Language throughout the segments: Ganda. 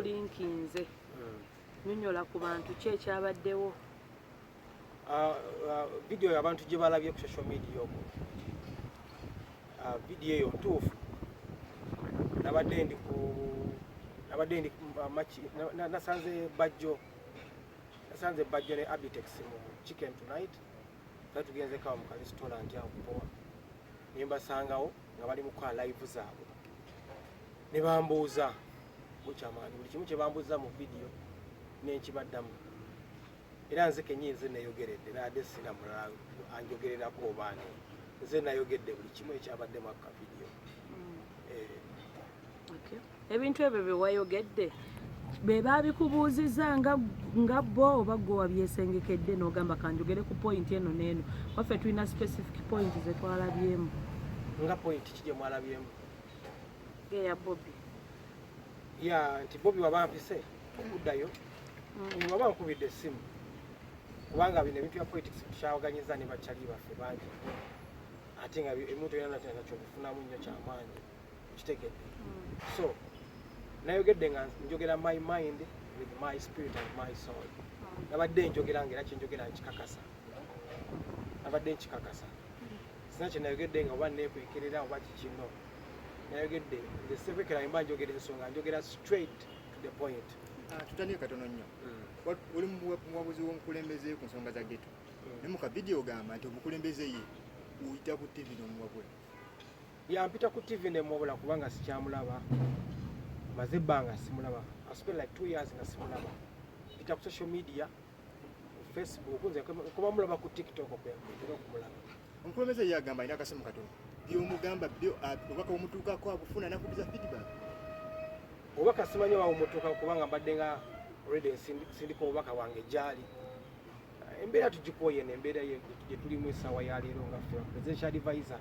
linkinze nyonyola ku bantu ki ekyabaddewo ah, ah, vidiyo abantu gye balabye ku social media omu ah, vidiyo eyo ntuufu nabadde ndi ku nabadde ndi maki nasanze bajjo nasanze bajjo ne abitex mu chicken tonight Kati tugenze kawa mu kalesitolanti awo kupowa ne mbasangawo nga bali mu kukola layivu zaabwe ne bambuuza bukyamaani buli kimu kye bambuuza mu vidiyo nenkibaddamu era nze kenyini nze nayogeredde naade sina mulala anjogererako obaani nze nayogedde buli kimu ekyabadde mu akavidiyo mm. eh. ebintu ebyo byewayogedde bebabikubuuziza nga nga bo oba gwe wabyesengekedde n'ogamba kanjogere ku point eno n'eno waffe tulina specific point zetwalabyemu nga point ki gye mwalabyemu eya bobi ya nti bobi waba mpise okuddayo mm. waba nkubidde essimu kubanga bino ebintu bya politics tukyawaganyiza ne bakyali baffe bangi ate nga emuntu yona nakyobifunamu nnyo kyamaanyi kitegedde mm. so nayogedde nga njogera my mind with my spirit and my soul mm. nabadde njogera nga era kyenjogera nkikakasa nabadde nkikakasa mm. sina kyenayogedde nga oba nekwekerera oba kikino nayogedde nze sikwekera mba njogera ensonga njogera straight to the point ah, tutandike katono nnyo oli muwabuzi w'omukulembeze ku nsonga za geto naye mu kavidiyo ogamba nti omukulembeze ye uyita ku ttivi n'omuwabula Yampita ku TV ne mubula kubanga sikyamulaba. Maze banga simulaba. I spent like 2 years nga simulaba. Pita ku social media, Facebook, nze kuba mulaba ku TikTok kwa mpita kumulaba. Nkulomeza yagamba ina kasimu katono. Byo mugamba byo ah, obaka omutuka kwa kufuna na kubiza feedback. Obaka simanya wa omutuka kubanga mbadde nga already sindiko obaka wange jali. Embera tujikoye ne embera ye tulimu esawa ya lero nga presidential advisor.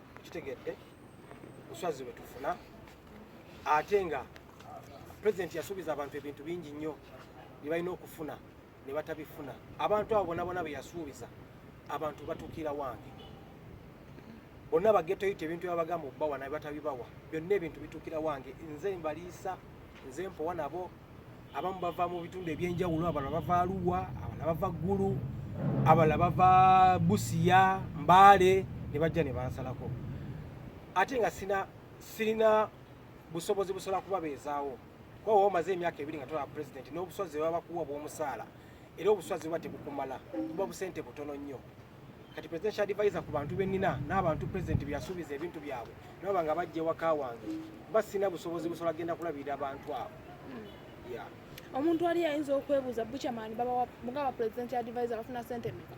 kitegedde buswazi bwe tufuna ate nga pulezidenti yasuubiza abantu ebintu bingi nnyo bye balina okufuna ne batabifuna abantu abo bona bona be yasuubiza abantu batuukira wange bonna bagetoyita ebintu byabagamba okubawa naye batabibawa byonna ebintu bituukira wange nze mbaliisa nze mpowa nabo abamu bava mu bitundu ebyenjawulo abalala bava aluwa abalala bava ggulu abalala bava busiya mbaale ne bajja ne bansalako ate nga sina sirina busobozi busobola kubabeezaawo kuba waba omaze emyaka ebiri nga tolaba pulezidenti n'obuswazi bwe babakuwa bw'omusaala era obuswazi buba tebukumala buba busente butono nnyo kati presidential advisor ku bantu benina n'abantu president byasuubiza ebintu byabwe naba nga bajja ewaka wange mba sina busobozi busobola genda kulabirira abantu abo hmm. omuntu ali ayinza okwebuuza buchaman mugaba president advisor bafuna sente meka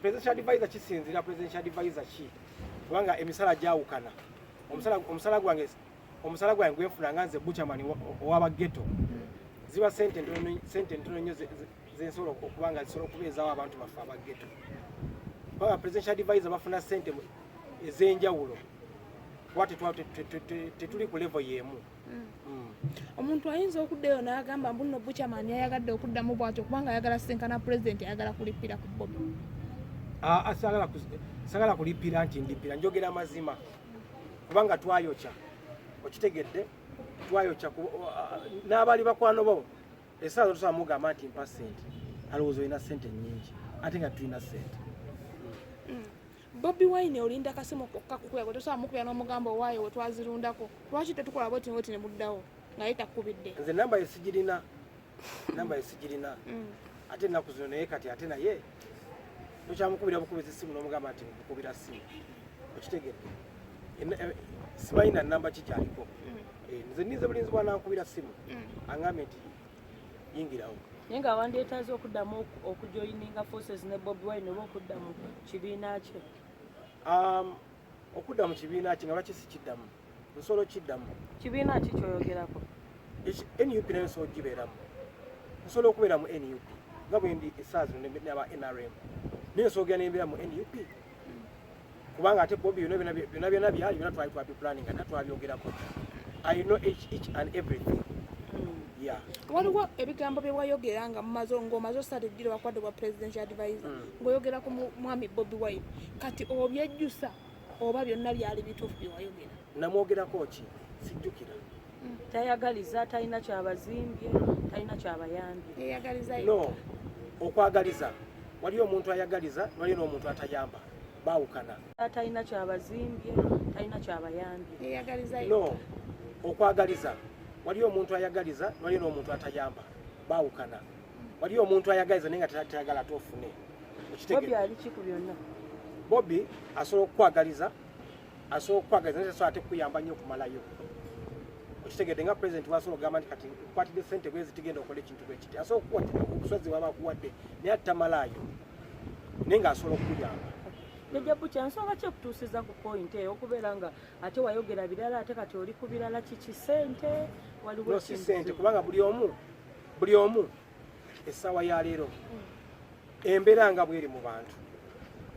president advisor kisinzira president advisor ki kubanga emisala gyawukana omusala gwange omusala gwange gwenfuna nga nze buchaman owabageto hmm. ziba sente ntono nnyo zensobola okuba nga zisobola okubeezawo abantu baffe abageto baba presidential advisor bafuna sente ez'enjawulo kuba tetuli ku levo y'emu mm. Mm. omuntu ayinza okuddayo n'agamba mbu nno bucamani ayagadde okuddamu bwatyo kubanga ayagala senkana pulezidenti ayagala kulippira ku bobi sagala kulippira nti ndippira njogera amazima kubanga twayokya okitegedde twayokya n'abaali bakwano bo Esaawa zotusobola mugamba nti mpa ssente alowooza olina ssente nnyingi ate nga tulina ssente. Mm. Bobi Wine olinda kasimu kokka kukuya gwe tosobola mukuya n'omugamba owaayo we twazirundako lwaki tetukola bweti ngoti ne muddawo naye takubidde. Nze namba ye sigirina namba ye sigirina mm. ate ennaku zino naye kati ate naye tokyamukubira bukubiza essimu n'omugamba nti nkukubira ssimu okitegedde eh, simanyi na namba ki kyaliko mm. eh, nze ninze bulinzi bwanankubira ssimu mm. angambye nti yingirawo naye nga wandyetaaza okuddamu okujoyininga forces ne bobi wine oba okudda mu kibiina kye um, okudda mu kibiina kye nga lwaki sikiddamu nsolo kiddamu kibiina ki kyoyogerako nup nayo nsolo gibeeramu nsobola okubeera mu nup nga bwendi esaawa zino naba nrm naye nsobola nembeera mu nup kubanga ate bobi byona byona byali byona twali twabipulaning ate twabyogerako i know each, each and everything waliwo ebigambo byewayogera nga mumaze ngaomaze osatu ejjira wakwadde bwa presidential advisor mm. ngaoyogera ku mwami bobi wine kati obyejjusa oba byonna byali bituufu byewayogera namwogerako ki sijjukira mm. tayagaliza talina kyabazimbye talina kyabayambye no okwagaliza waliyo omuntu ayagaliza waliyo n'omuntu atayamba bawukana talina kyabazimbye talina kyabayambye no okwagaliza waliyo omuntu ayagaliza waliyo n'omuntu atayamba bawukana waliyo omuntu ayagaliza naye nga tayagala ate ofune bobi asobola okukwagaliza asobola okukwagaliza naye tasobola ate kukuyamba nnyo okumalayo okitegedde nga president wasobola okugamba nti kati kwatidde sente bwezi tigenda okola ekintu bwekiti asobola okusozi waba akuwadde naye ate tamalaayo naye nga asobola okukuyamba jajja bukya nsonga ki ekutuusiza ku point eyo okubeera nga ate wayogera birala ate kati oli ku birala kiki sente waliwo si sente kubanga buli omu buli omu essaawa ya leero embeera nga bweri mu bantu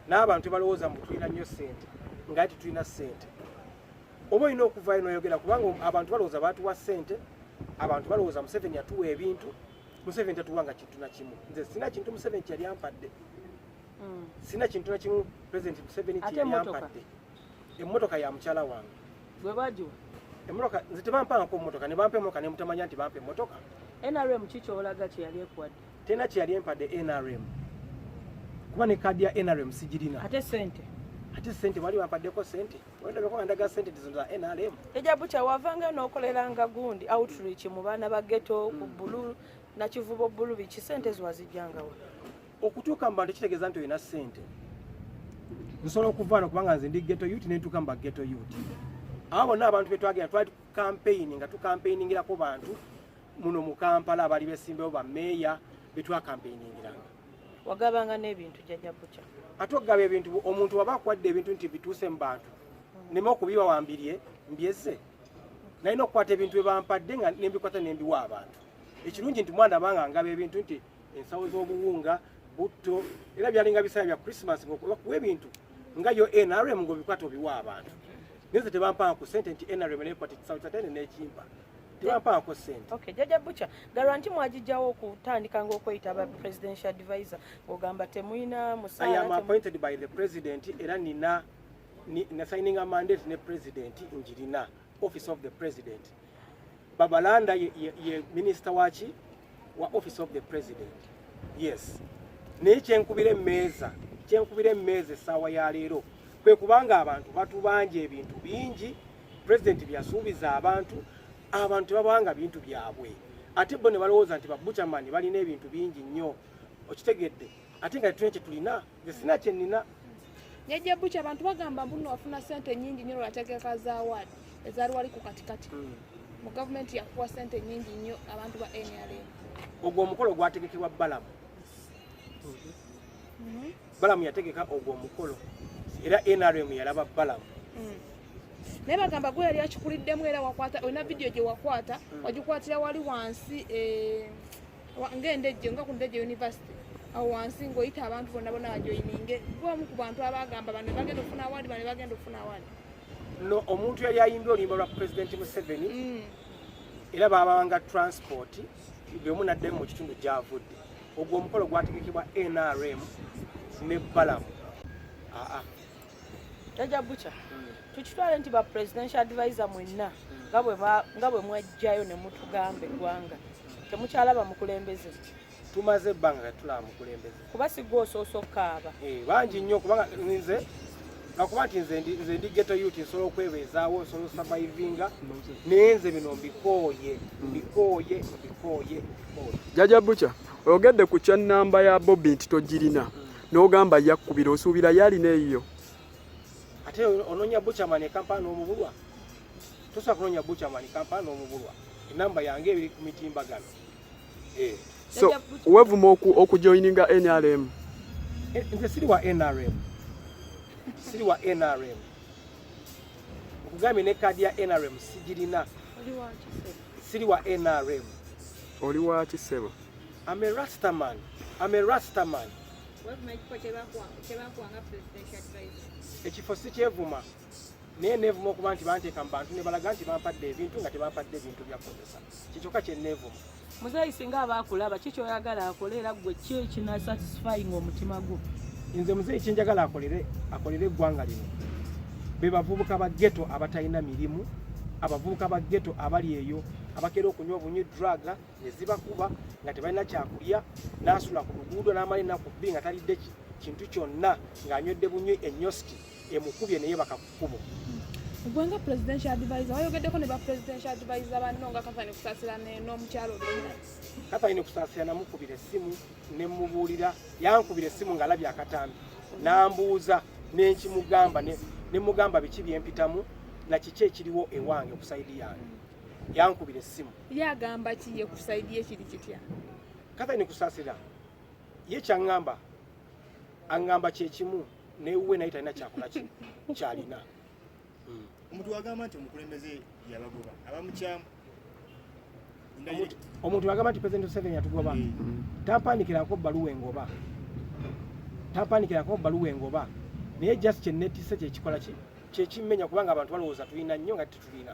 n'abantu balowooza mbu tulina nnyo ssente nga tetulina ssente oba olina okuvaayo noyogera kubanga abantu balowooza baatuwa ssente abantu balowooza museveni yatuwa ebintu museveni tatuwa nga kintu na kimu nze sina kintu museveni kyeyali ampadde mm. sina kintu na kimu president museveni kyeyali ampadde emmotoka ya mukyala wange gwe bagiwa emmotoka nze tebampangako mmotoka ne bampa emmotoka ne mutamanya nti bampa emmotoka nrm ki kyolaga kye yali ekuwadde tena kye yali empadde nrm kuba ne kaadi ya nrm sigirina ate sente ate sente wali wampaddeko sente wendabeko andaga sente tizo za nrm eja bucha wavanga nokoleranga gundi outreach mu baana ba ghetto ku bulu na kivubo bulu biki sente ziwazijjangawa okutuuka mu bantu kitegeeza nti olina ssente nsobola okuvaana kubanga nze ndi geto yut nentuuka mu bageto yut abo bonna abantu betwagenda twali tukampeyini nga tukampeyiningirako bantu muno mu kampala abaali besimbewo bameeya betwakampeyiningiranga wagabanga n'ebintu jajja buca ate okugaba ebintu omuntu waba akwadde ebintu nti bituuse mu bantu nema okubiwa wambirye mbyeze nalina okukwata ebintu bye bampadde nga nembikwata nembiwa abantu ekirungi nti mwana banga ngaba ebintu nti ensawo z'obuwunga butto era byalinga bisaala bya christmas ngakuwa ebintu nga yo nrm ngaobikwata obiwa abantu neze tebampanga ku sente nti nrm nekwata ekisawo kyatene nekimpa tebampaako sente okay jaja bucha garanti mwajijjawo okutandika ngaokweyita ba presidential advisor ogamba temuyina musaala i am appointed by the president era nina na signing a mandate ne president njirina office of the president babalanda ye, ye, ye minisita waki wa office of the president yes naye kyenkubira emmeeza kyenkubira emmeeza essaawa ya leero kwe kubanga abantu batubanja ebintu bingi president byasuubiza abantu abantu babanga bintu byabwe ate bo ne balowooza nti babucamani balina ebintu bingi nnyo okitegedde ate nga tetulina kye tulina nze sina kyenina jajja buki abantu bagamba mbuno wafuna sente nyingi nyo lwategeka za award ezali wali ku katikati hmm. mu gavumenti yakuwa sente nyingi nyo abantu ba nrm ogwo omukolo gwategekebwa balamu hmm. balamu yategeka ogwo omukolo era nrm yalaba balamu hmm. naye bagamba gwe yali akikuliddemu era wakwata olina vidiyo gye wakwata wagikwatira wali wansi eh, ng'endejje nga ku ndejje university awo wansi ng'oyita abantu bonna bona bajoyininge gwomu ku bantu abagamba bano bagenda okufuna awaadi bano bagenda okufuna awaadi no omuntu yali ayimbye oluyimba lwa pulezidenti museveni mm. era babanga transport buli omu nadde mu kitundu gyavudde ogwo omukolo gwategekebwa nrm ne balamu aa Jaja Bucha tukitwale nti ba presidential advisor mwenna nga bwe mwajjayo ne mutugamba eggwanga temukyalaba mukulembeze tumaze ebbanga kati tulaba mukulembeze kuba sigwa osoosa okukaaba eh, bangi nnyo kubanga nze nakuba nti nze ndi geto yuti nsobola okwebeezaawo nsobola osavaivinga naye nze bino mbikooye mbikooye mbikooye jaja bucha oyogedde ku kya namba ya bobi nti togirina mm. N'ogamba yakkubira osuubira yalina eyiyo. Ate ononya buchaman e Kampala n'omubulwa. Tosobola kunonya buchaman e Kampala n'omubulwa. Enamba yange ebiri ku mitimbagano. Eh. So, wevuma oku okujoininga NRM. Eh, nze siri wa NRM. Siri wa NRM. Okugambye ne kaadi ya NRM sigirina. Siri wa NRM. Oli wa kisebo. I'm a rasta man. I'm a rasta man. ekifo sikyevuma naye neevuma okuba nti banteeka mu bantu ne balaga nti bampadde ebintu nga tebampadde bintu byakozesa kikyoka kye neevuma muzeeyi singa aba akulaba ki kyoyagala akole era ggwe ki ekinasatisfying omutima gwo nze muzeeyi kyenjagala akolere akolere eggwanga lino be bavubuka ba geto abatalina mirimu abavubuka ba geto abali eyo abakeera okunywa obunywi draga ne zibakuba nga tebalina kyakulya n'asula ku luguudo n'amala ennaku bbi nga talidde kintu kyonna ng'anywedde bunywi enyoski emukubye naye bakakukubo gwe nga presidential advisor wayogeddeko ne ba presidential advisor banno nga kathani kusasira n'omukyalo kathani kusasira namukubira essimu nemubuulira yankubira essimu ng'alabye akatambi nambuuza nenkimugamba nemugamba biki byempitamu nakiki ekiriwo ewange okusaidi yange yankubira essimu ye agamba ki ye kusaidi ye kiri kitya katha ni kusasira ye kyangamba angamba kyekimu newuwe naye talina kyakola ki kyalina hmm. omuntu wagamba nti omukulembeze yabagoba abamukyamu omuntu wagamba nti president seven yatugoba hmm. tampandikirako baluwa engoba tampandikirako baluwa engoba naye just kyenetise kyekikola ki kyekimenya kubanga abantu balowooza tulina nnyo nga tetulina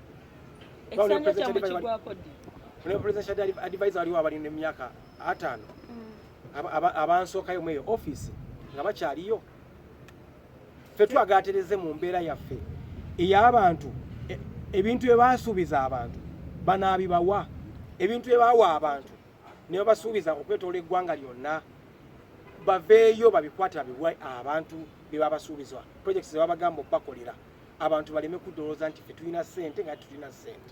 ekisanja kyamu kigwako ddi ne presidential advisor waliwo abali ne myaka atano mm. abansookayo mweyo office nga bakyaliyo fe twagatereze mu mbeera yaffe ey'abantu e, ebintu bye baasuubiza abantu banaabibawa ebintu bye bawa abantu ne babasuubiza okwetoola eggwanga lyonna baveeyo babikwate babiwe abantu bye babasuubizwa projects ze babagamba okubakolera abantu baleme kudowooza nti ffe tulina ssente nga tulina ssente